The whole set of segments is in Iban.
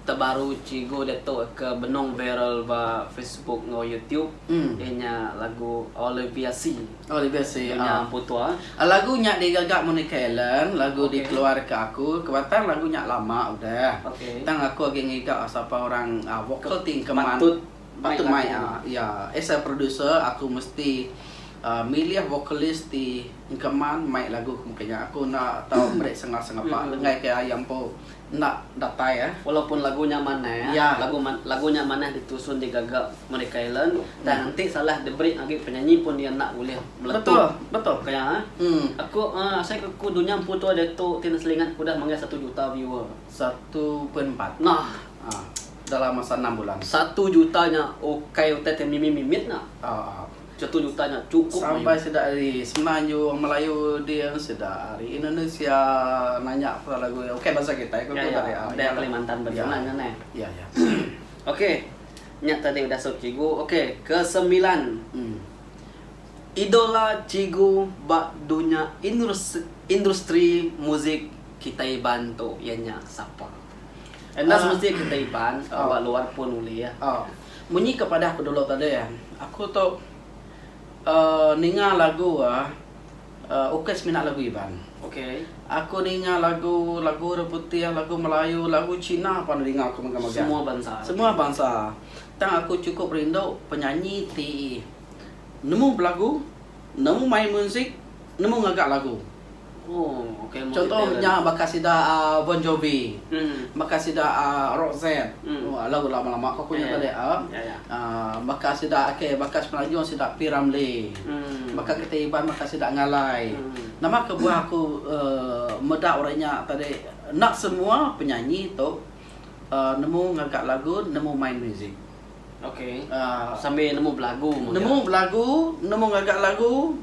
Terbaru Cigu Datuk ke benung viral ba Facebook enggau YouTube iya nya lagu Olivia Sea Dunya Ampu Tua. Lagu nya digaga Monica Allen, lagu dikeluarka aku ke batang lagu nya lama udah tang aku agi ngiga sapa orang vokal ti engkeman patut mai iya. As a producer aku mesti milih vokalis ti engkeman mai lagu ke muka nya. Aku enda tau meri sengah-sengapa lenggaika iya empu enda datai eh. Walaupun lagu nya manah eh. Ya. Lagu lagu nya manah ditusun digaga Merdeka Allen, tang enti salah diberi agi penyanyi pun iya enda ulih meletup. Betul. Betul. Ka iya eh. Hmm. Aku uh, asai ke aku dunya empu tua diatu ti neselingat aku udah manggai satu juta viewer. Satu pun empat. Nah. Ah. Dalam masa enam bulan. Satu juta nya ukai utai ti mimit-mimit nya. Ah. Chetu juta nya chukup mayuh. Sampai sida ari semenanju orang melayu ding sida ari indonesia nanya pula lagu nya okay bansa kitai ko ko tadi ah iya kalimantan betulan nya neh iya iya okay nya tadi udah sub cigu okay ke semilan idola cigu ba dunya industri muzik kitai iban tu iya nya sapa enda semesti kitai iban ba luar pun ulih ya. Munyi ke padah pedulu tadi an aku tu uhh ninga lagu uhh ukai semina lagu iban. Aku ninga lagu lagu orang putih, lagu melayu, lagu cina pun ninga aku mega mega. Semua bansa. Tang aku chukup rindu penyanyi ti nemu belagu. Nemu main muzik, nemu ngaga lagu. Chunto nya baka sida Bon Jovi, baka sida Roxette, lagu lama-lama ko aku nya tadi baka sida okay baka semenanjung sida P Ramlee, baka kita Iban baka sida Ngalai. Nama kebuah aku meda orang nya tadi enda semua penyanyi tu nemu ngaga lagu, nemu main muzik. Ok aaa sambil nemu belagu mega. Nemu belagu, nemu ngaga lagu,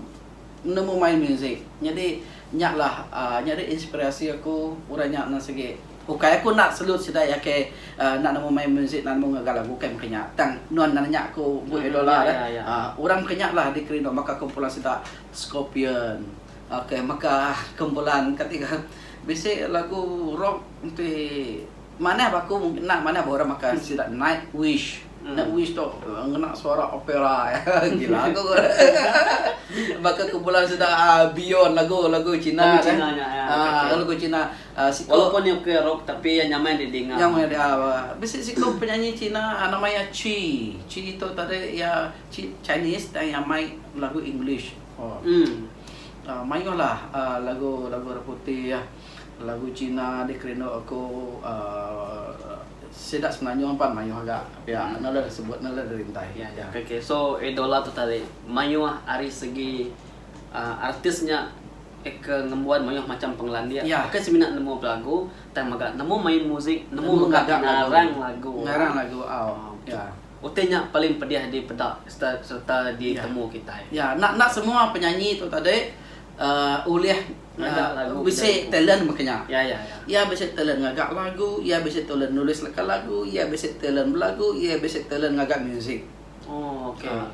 nemu main muzik. Nyadi nya lah aaa nya deh inspirasi aku udah nya ne sigi. Ukai aku enda selut sida iya ke aaa enda nemu main muzik enda nemu ngaga lagu ukai meka nya tang nuan enda nanya aku buh iya dola deh. Aaa orang meka nya lah dikeri nuan baka kumpulan sida Scorpion ok meka kumpulan kati ngagai bisi lagu rock enti. Manah ba aku mung kena manah ba orang makan sida Nightwish. Nightwish tu ngena suara opera agi lagu baka kumpulan sida Beyond lagu lagu China nya lagu China walaupun iya bukai rock tapi iya nyamai didinga. Nyamai didinga. Bisi siku penyanyi China nama iya Chi. Chi tu tadi iya Chi Chinese tang iya mai lagu English. Mayuh lah lagu lagu orang putih. Lagu Cina deh kerindu aku sida semenanjung pan mayuh ga pia enda ulih sebut enda ulih dirintai pia. Ok so idola tu tadi mayuh ari segi artis nya ke ngembuan mayuh macam pengelandik bukan semina nemu belagu tang mega nemu main musik nemu mega ngarang lagu ngarang lagu au ya utai nya paling pedih dipeda sereta ditemu kitai ya enda enda semua penyanyi tu tadi ulih ngaga lagu bisi talent mega nya. Iya bisi talent ngaga lagu, iya bisi talent nulis leka lagu, iya bisi talent belagu, iya bisi talent ngaga muzik.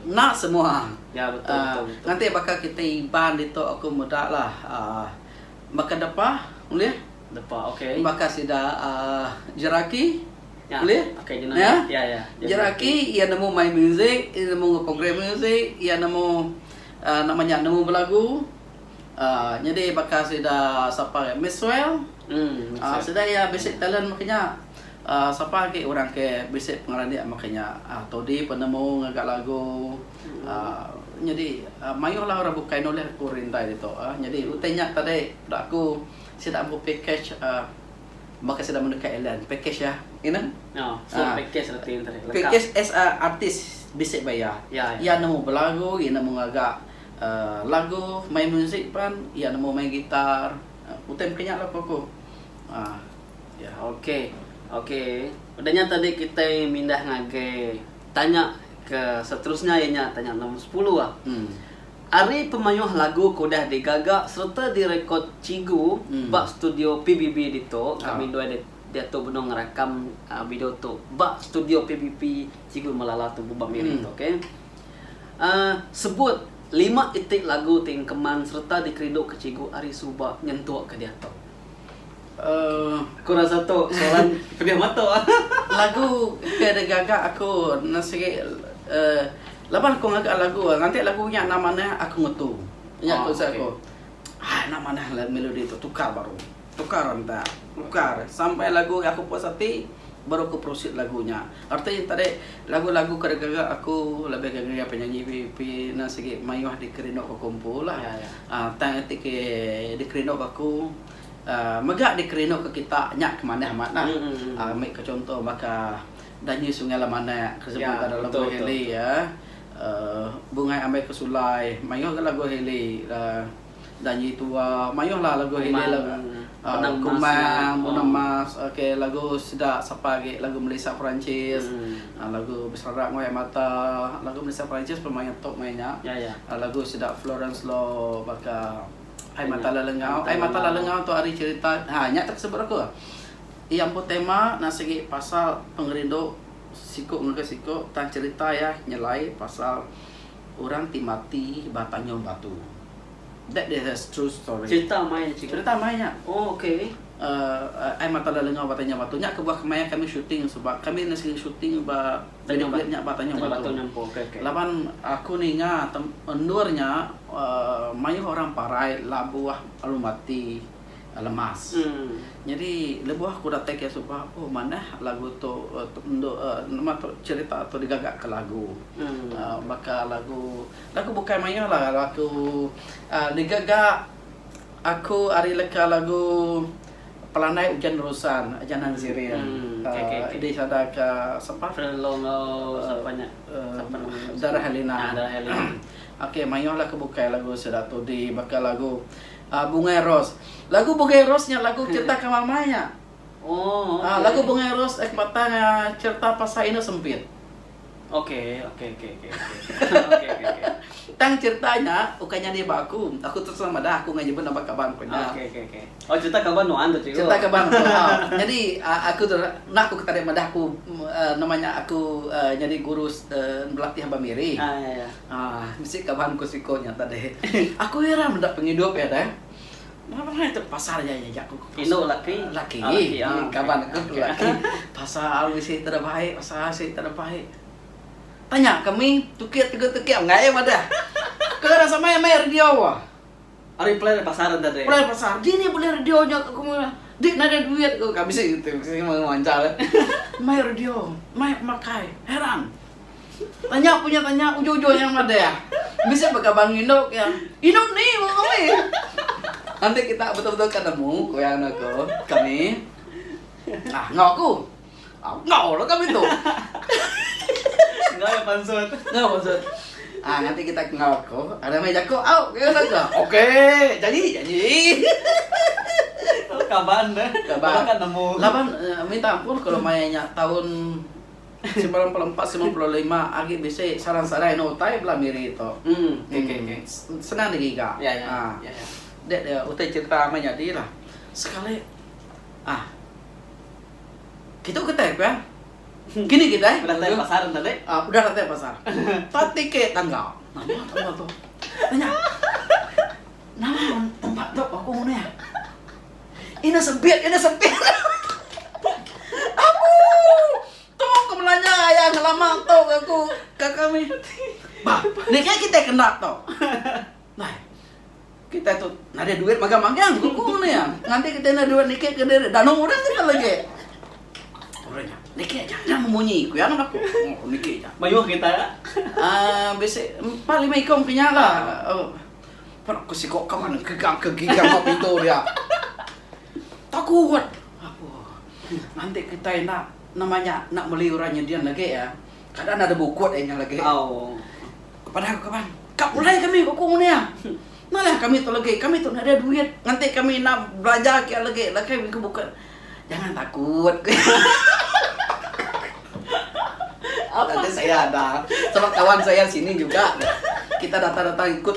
Enda semua. Nganti baka kitai Iban ditu aku meda lah uhh baka depa ulih baka sida uhh Jeraki ulih Jeraki iya nemu main muzik, iya nemu program muzik, iya nemu uhh nama nya nemu belagu. Nyadi baka sida sapa agi Maxwell uhh sida iya bisi talent meh kinya uhh sapa agi orang ke bisi pengeradik meh kinya uhh Tody penemu ngaga lagu uhh nyadi mayuh lah orang bukai nulih ku orang indai ditu uhh nyadi utai nya tadi da aku sida ampu package uhh baka sida meh deka Ilan package iya inen uhh package as a artist bisi ba iya iya nemu belagu iya nemu ngaga Lagu main muzik pan iya nemu main gitar utai maka nya lah ku aku iya ok ok udah nya tadi kitai mindah ngagai tanya ke seterusnya iya nya tanya nombor sepuluh ah hmm ari pemayuh lagu ke udah digaga sereta direkod cigu hmm ba studio PBB ditu kami dua ah diatu benung ngerakam video tu ba studio PBB cigu melala tu ba miri hmm tu ok. Aaa sebut lima iti lagu ti engkeman sereta dikerinduka cikgu ari suba nyentuk ke diatu. Aaa ku rasa tu soalan pedih mata. Lagu ke digaga aku ne sigi aaa laban aku ngaga lagu ngagai lagu nya enda manah aku ngetu. Nya ku rasa aku. Haa enda manah melodi tu tukar baru. Tukar enta ukar sampai lagu aku puas ati baru aku proceed lagu nya. Arti nya tadi lagu-lagu ke digaga aku lebih ke ngagai penyanyi VIP enda sigi mayuh dikerinduka aku empu lah. uhh tang iti ke dikerinduka aku uhh mega dikerinduka kita nya ke manah amat lah. uhh ambi ke chunto baka Danyi Sungai Lemanak ke sebut baka lagu Hailey uhh Bungai Ambai ke Sulai mayuh ga lagu Hailey uhh. Janji tua mayuh lah lagu agi ila kumang munang mas ok lagu sida sapa agi lagu melisa perancis lagu beserak enggau air mata lagu melisa perancis pun mayuh top maya nya lagu sida florence law baka air mata lalu enggau air mata lalu enggau tu ari cerita ha nya tu sebut aku iya empu tema na sigi pasal pengerindu siku ngagai siku tang cerita iya nyelai pasal Orang ti mati ba Tanjung Batu. That is a true story. Cerita mai cikgu. Cerita mai nya. Oh okay. Uh, ai mata lelengau ba Tanjung Batu. Nya kebuah kemaya kami shooting sebab kami enda sigi shooting ba Tanjung Batu nya ba Tanjung Batu. Tanjung Batu okay, okay. Laban aku ninga endur nya uh, mayuh orang parai labuh alumati. lemas. Nyadi lebuh aku datai kiya suba oh manah lagu tu endu nama tu cherita tu digaga ke lagu baka lagu lagu bukai maioh lah lagu aaa digaga aku ari leka lagu pelandai ujan rusan janan ziring aaa disada ka sapa aaa darah helina. Okey maioh lah ke bukai lagu sida tu di baka lagu. Ah bungai ros. Lagu bungai ros nya lagu cerita ke mama nya. Oh, okay. Ah lagu bungai ros eh batang ah, cerita pasal inu sempit. Okey, okey, okey, okey. Okey, okey, okey. Tang cerita nya ukai nyadi ba aku. Aku terus terang madah aku ngai nyebut nama kaban aku nya. Okey, okey, okey. Oh, cerita kaban nuan tu cikgu. Cerita kaban aku. ha. Jadi uh, aku tu nak aku ketarik madah aku uh, nama nya aku uh, nyadi guru uh, belatih ba Miri. Ha, ya, ya. Aah, bisi ka bangku siko nya tadi. Aku heran meda pengidup iya deh. Mengapa nengah itu pasal iya iya jaku ku pasal. Laki. Kaban aku tu laki. Pasal bisi tera baik, pasal bisi tera baik. Tanya kami, tukik tegur tukik menggai madah. Kau ira samai meh radio. Ari plan ari pasar enda deh. Plan pasar. Dini beli radio nya ke kemua. Dik nadai duit ko ka bisi tu kemua manjal eh. Mai radio, mai pemakai. Heran. Tanya punya tanya ujung ujung nya madah. Bisi baka bangi endo ke yang. Inu ni ko kami. Enti kita betul betul ka nemu ko yang anu ko kami. Nah enggau aku. Enggau lah kami tu. Enggau ya pansut. Enggau pansut. Ah ha, nanti kita kenal aku. Ada mai jaku au ke saja. Okey, janji janji. Kaban deh. Kaban kan nemu. Laban eh, minta ampun kalau mayanya tahun 94 95 agi bisi sarang-sarang no utai bela miri tu. Hmm, okey okey. Okay. Hmm, senang digiga. Ya ya. Ah. Ya ya. Dek dia utai cerita mayanya dilah. Sekali ah Kitu kitai pia. Kini kitai. Udah tai pasar enda deh. Ah, udah tai pasar. Tati ke tangga. Nama tangga tu? Tanya. Nama tempat tu aku ngune? Ina sempit, ina sempit. Abu. Tu ke melanya ayah ngelama tu ke aku ke kami. Bah, ni ke kitai kena tu. Nai. Kitai tu nadai duit magang magang ku ku nya. Nganti kitai enda duit niki ke diri danu orang ke nya lagi. Orang nya. Niki aja nya memunyi ku iya ngaga aku. Niki aja. Mayuh kitai la. Ah bisi empat lima ikom ke nya la. Pan aku siko kawan engke gang ke gigang ba pintu dia. Takut. Apuh. Nganti kitai enda nama nya enda meli orang nyedian lagi ya. Kada nada bukut ai nya lagi. Padah ku kaban, ka pulai kami ku aku nguni iya. Nalah kami tu lagi, kami tu nada duit nganti kami enda belajar kia lagi lakai mih ku bukut. Jangan takut ku iya. Tadi saya ada sama kawan saya sini juga. Kita datang-datang ikut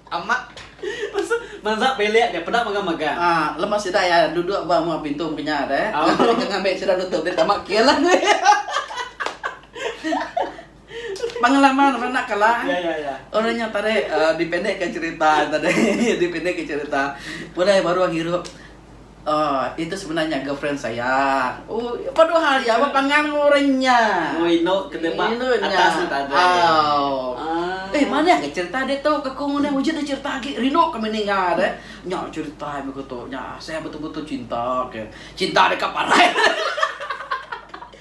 Amat. Pasal mansa bilik nya peda mega-mega. Ah, lemak sida iya duduk ba mua pintu mega nya deh. Ngagai deka ngambi sida nutup deh tama kil lah ngui. Pengalaman ba anak kala eh. Ya, ya, ya. Orang nya tarik dipendekka cherita tadi, dipendekka cherita. Pulai baruh ngirup Ohh itu sebenarnya girlfriend saya. Oh, padu hal ya ba pangan orang nya. Oh inu ke deba atas tu tadi. Oh. Eh manah ke cerita dia tu ke ku ngundah wujud dia cerita agi rindu kami ninga dia. Nya cerita begitu nya saya betul-betul cinta ke. Cinta deka parai.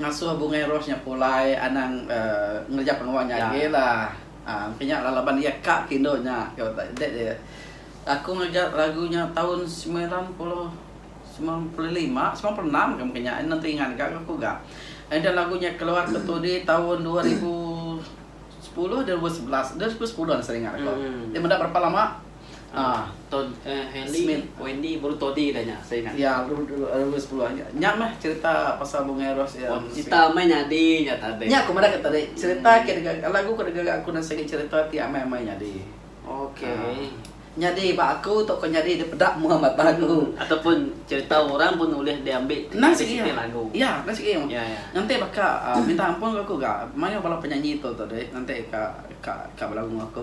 Ngasuh bungai rose nya pulai anang ngereja pengawa nya agi lah. Engka nya lah laban iya ka ke indu nya ke dek deh. Aku ngereja lagu nya taun semilan puluh semilan puluh lima, semilan puluh enam ke mungkin nya. Nenti ingat ga ke aku ga. Enda lagu nya keluar ke Tuli taun dua ribu sepuluh, dua ribu sebelas, dua ribu sepuluh seringat aku. Dia meda berapa lama. Ah Tod eh Helly, Smith. Wendy baru Toddy dah nya saya ingat. Ya baru dulu sepuluh. Nya meh cerita pasal Bungai Ros iya. Oh cerita amai nyadi nya tadi. Nya ku madah ke tadi cerita ke dega lagu ke dega aku nan sigi cerita ti amai-amai nyadi. Okey. Nyadi ba aku tauka nyadi dipeda mua mata aku. Ataupun cerita orang pun ulih diambi Endang sigi iya. lagu. Iya, endang sigi. Ya ya. Nganti baka minta ampun ke aku ga mayuh bala penyanyi tu tadi nganti ka ka ka belagu aku.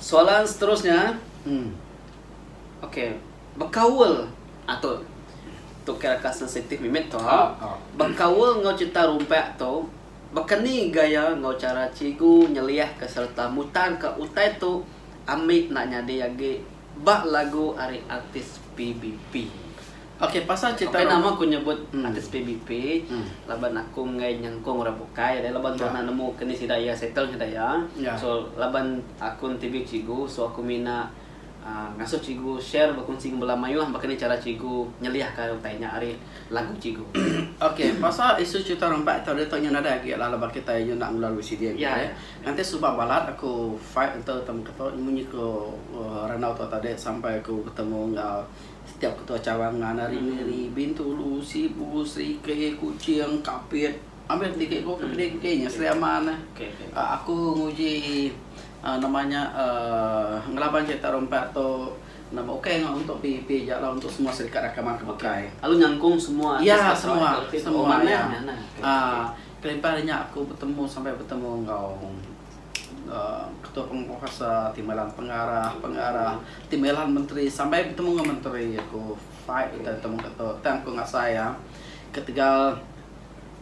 Soalan seterusnya, hmm, ok, bekaul ah tu tu kira ka sensitif mimit tu ha, bekaul enggau cerita rumpak tu bekeni gaya enggau cara cigu nyeliahka sereta mutarka utai tu ambi enda nyadi agi ba lagu ari artis PBB. Okey pasal cerita Okey nama aku nyebut hmm. artis PBP hmm. laban aku enggai nyengkong orang bukai ada laban ya. mana nemu kini sida ya settle sida ya. ya. So laban aku TV cikgu so aku mina uh, ngasuh cikgu share berkongsi dengan belah mayuh bakani cara cikgu nyeliah ka utai nya ari lagu cikgu. Okey pasal isu cerita rembat tadi tu nya ada agi lah laban kita nya nak melalui sini ya. ya. Nanti sebab balat aku fight untuk temu kita munyi ke uh, ranau tu tadi sampai aku bertemu dengan Setiap ketua cawangan ngan ari Miri, Bintulu, Sibu, Serikei, Kuching, Kapit, ambil tiket ko ke kedai engke nya Sri Aman eh aku nguji eh nama nya eh ngelaban cherita rompat tu nama ukai ngau untuk PEP ja lah untuk semua serikat rakan mara ke bukai. Lalu nyangkung semua artis ya semua semua ya. Ah kelimpah nya aku betemu sampai betemu enggau. Ketua Penguasa ti melan pengarah pengarah ti melan menteri sampai betemu enggau menteri aku fight utai betemu enggau tu tang aku ngasai iya ketegal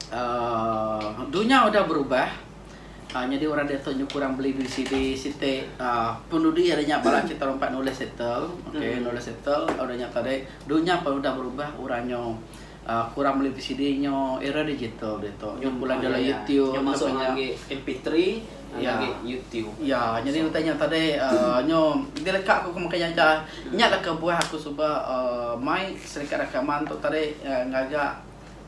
uhh dunya udah berubah uhh nyadi orang diatu nyukup orang beli duit sidi siti uhh penudi ari nya bala kita orang empat nulis settle okay nulis settle ari nya tadi dunya pun udah berubah orang nyau Aku orang beli VCD nyo era digital ditu nyo pula dalam YouTube nyo masuk ngagai MP3 ngagai YouTube. Iya nyadi utai nya tadi nyo dileka ku makai jaja nya lah kebuah aku suba mai serikat rakaman tu tadi ngaga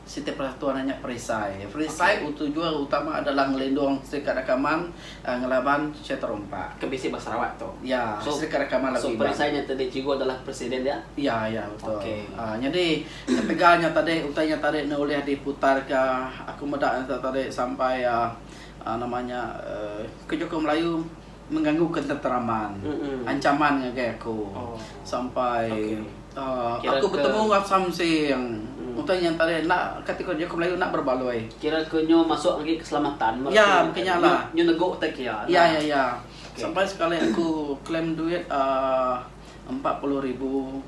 siti persatuan nya perisai. Perisai tujuan utama adalah ngelindung serikat rakaman ngelaban Cheterompa. Ke bisi ba Sarawak tu. Ya, So, sida ke rakaman lagu so Iban. perisai nya tadi cikgu adalah presiden dia? Ya, ya, betul. Okey. Aa, nyadi ketegal nya tadi, utai nya tadi enda ulih diputarka, aku meda nya tadi sampai aa, aa nama nya aa, ke juku Melayu mengganggu ketenteraman, Mm-mm. ancaman ngagai aku Oh. sampai Okey. Kira aku betemu enggau Samseng. Utai nya tadi enda kati ku jaku Melayu enda berbaloi. Kira ke nyo masuk agi keselamatan meh. Ya mungkin nya lah. Nyo nego utai ke iya. Ya ya ya. Sampai sekali aku claim duit uhh empat puluh ribu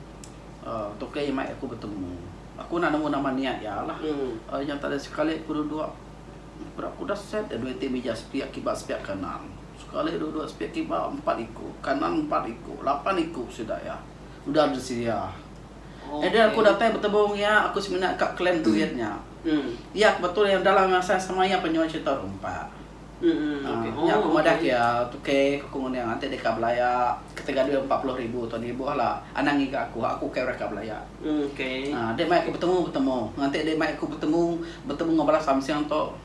uhh tu ke iya mai aku betemu. Aku enda nemu nama nia iya lah. Ari nya tadi sekali ku duduk berat ku udah set dah duit ti mih ija sepiak kiba sepiak kanan. Sekali duduk sepiak kiba empat iku, kanan empat iku, lapan iku sida iya. udah besedia. Enda aku datai betemu enggau iya, aku semina ka claim duit nya. Iya ke betul iya dalam masa yang sama iya pun nyau cherita rumpak. Nya aku madah ke iya, Tukey, ku aku ngundah iya, enti deka belaya ketegal duit empat puluh ribu tu nih buh lah anang ngiga aku, aku ukai orang ka belaya. Dek mai aku betemu, betemu. Enti dek mai aku betemu, betemu enggau bala samseng tu,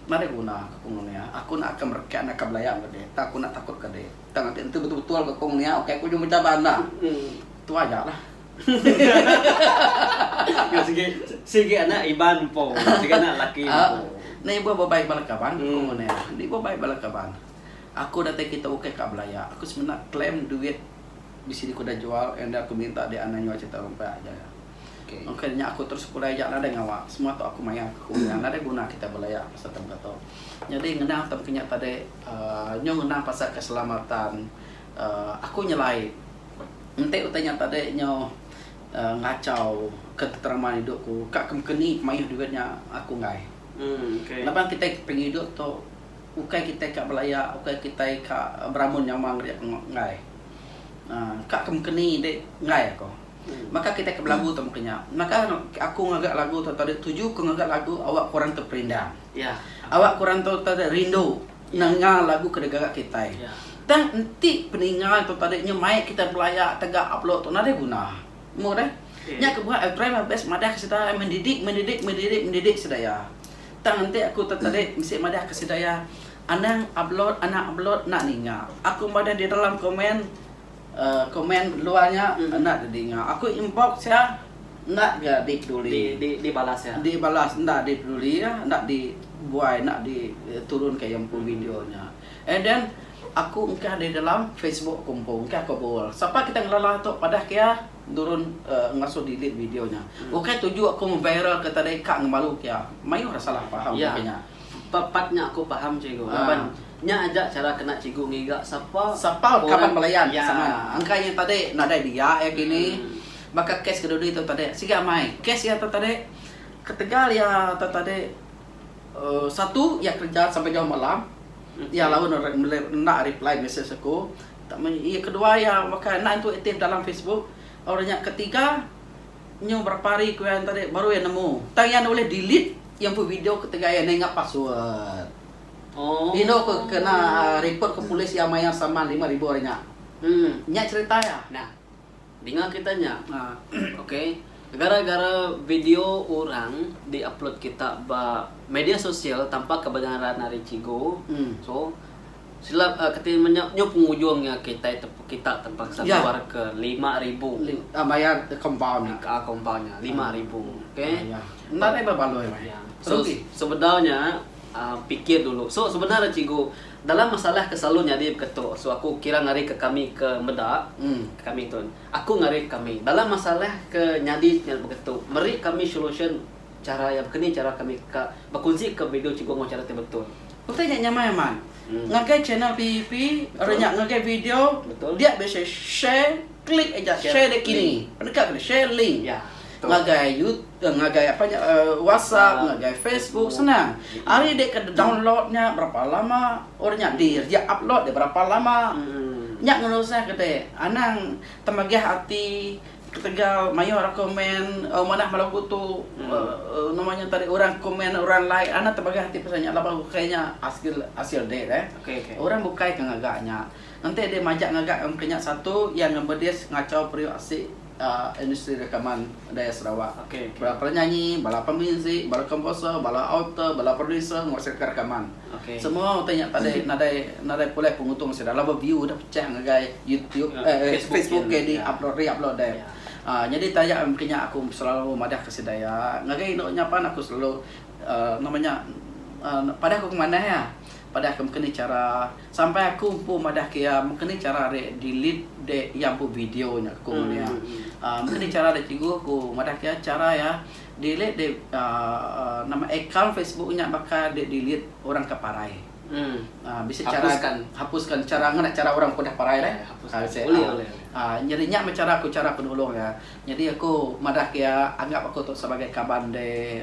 nadai guna, ku aku ngundah iya. Aku enda akan merekat enda ka belaya enggau dek, tang aku enda takut ka dek. Tang ati enti betul betul ke kong nia ukai ke ujung becabar endang. Tu aja lah. Ngau sigi sigi anak Iban empu sigi anak laki empu. Ni ibuh ba bai bala kaban ku ngune lah. Ni ibuh bai bala kaban. Aku datai kitu ukai ka belaya. Aku semina claim duit bisi dikuda jual enda aku minta di anang nyual cerita rumpak aja. Okey nya aku terus pulai aja nadai ngawa semua tu aku mayar aku punya nadai guna kita belaya pasal tempat tu. Nyadi ngenang tempat nya tadi uhh nyu ngenang pasal keselamatan uhh aku nyelai enti utai nya tadi nyu uhh ngachau ketentraman idup ku ka ke mungkin nih mayuh duit nya aku enggai. Laban kitai ke pengidup tu ukai kitai ka belaya ukai kitai ka beramun nyaman nya enggai uhh ka ke mungkin nih dik enggai aku. Maka kitai ke belagu temu ke nya. Maka aku ngaga lagu tu tadi tuju ku ngaga lagu awak korang tu perindang. Awak korang tu tadi rindu nanga lagu ke digaga kitai. Tang enti peninga tu tadi nya mai kitai belaya tega upload tu nadai guna. Mbuh deh. Nya ke buah I try my best madah ke sida mendidik mendidik mendidik mendidik sida iya. Tang enti aku tu tadi mesti madah ke sida iya anang upload anang upload enda ninga. Aku madah di dalam komen. Komen luar nya enda didinga. Aku inbox iya enda ga dipeduli. Dibalas enda dipeduli iya enda di buai enda di turun ka iya empu video nya. And then aku engkah di dalam Facebook aku empu engkah aku bual. Sapa kitai ngelala tu padah ke iya nurun uhh ngasuh delete video nya. Ukai tuju aku ngeviral ka tadi ka ngemalu ke iya. Mayuh salah faham ngagai nya. Suka pat nya aku paham cikgu laban nya aja cara kena cikgu ngiga sapa orang iya angkai nya tadi nadai dia iya kini baka kes kedudi tu tadi sigi amai kes iya tu tadi ketegal iya tu tadi satu iya kerja sampai jauh malam iya lalu enda reply mesej aku iya kedua iya baka enda intu aktif dalam facebook orang nya ketiga Nyu berapa hari ku iya tadi baru iya nemu. Tang iya enda ulih delete iya empu video ketegal iya ninga password. Indu ku kena report ke polis iya mayar saman lima ribu hari nya. Nya cherita iya. Nah. Dinga kita nya. Okay. Gara-gara video orang di upload kita ba media sosial tanpa kebenaran ari cigu. So. Silap a keti menyau nyu pengujung nya kitai kita tempaksa keluar ke lima ribu. A mayar compound nya. A compound nya lima ribu ok. Enda deh bebaloi weh. Ya. So sebedau nya a pikir dulu. So sebenar nya cikgu dalam masalah ke selalu nyadi ke tu so aku kira ngarai ke kami ke meda kami tu aku ngarai kami dalam masalah ke nyadi ke tu meri kami solution cara yang keni cara kami ka bekunsi ke video cikgu enggau cara ti betul. Utai nya nyamai amat. Ngagai channel PEP ari nya ngagai video dia bisi share share klik aja share dia kini deka bisi share link ngagai YouTube ngagai apa nya WhatsApp ngagai Facebook senang ari dia ke download nya berapa lama ori nya di dia upload dia berapa lama nya ngerusa kite anang temegah ati. Ketegal mayuh orang komen manah ba lagu tu nama nya tadi orang komen orang like anak tebagai ati pasal nya laban ukai nya asil asil date eh okay okay orang bukai ke ngaga nya enti deh majak ngaga ke nya satu iya ngemedis ngachau periuk asi uhh industri rekaman budaya Sarawak okay okay bala penyanyi bala pemuzik bala komposer bala author bala producer nguasaika rekaman. Semua utai nya tadai nadai nadai pulai pengutung sida laban view udah pecah ngagai YouTube eh Facebook ke di upload re upload deh. Aaa nyadi taja mungkin nya aku selalu madah ke sida iya ngagai inu nya pan aku selalu aaa nama nya aaa padah ku manah iya padah ke mungkin ni chara sampai aku empu madah ke iya mungkin ni chara re delete de iya empu video nya ku ngundah iya. Aaa mungkin ni chara de cikgu ku madah ke iya chara iya Delete deh nama account facebook nya baka deh delete orang ke parai bisi chara hapuskan chara ngena chara orang ke udah parai deh nyadi nya meh chara ku chara penulung iya nyadi aku madah ke iya anggap aku tu sebagai kaban deh.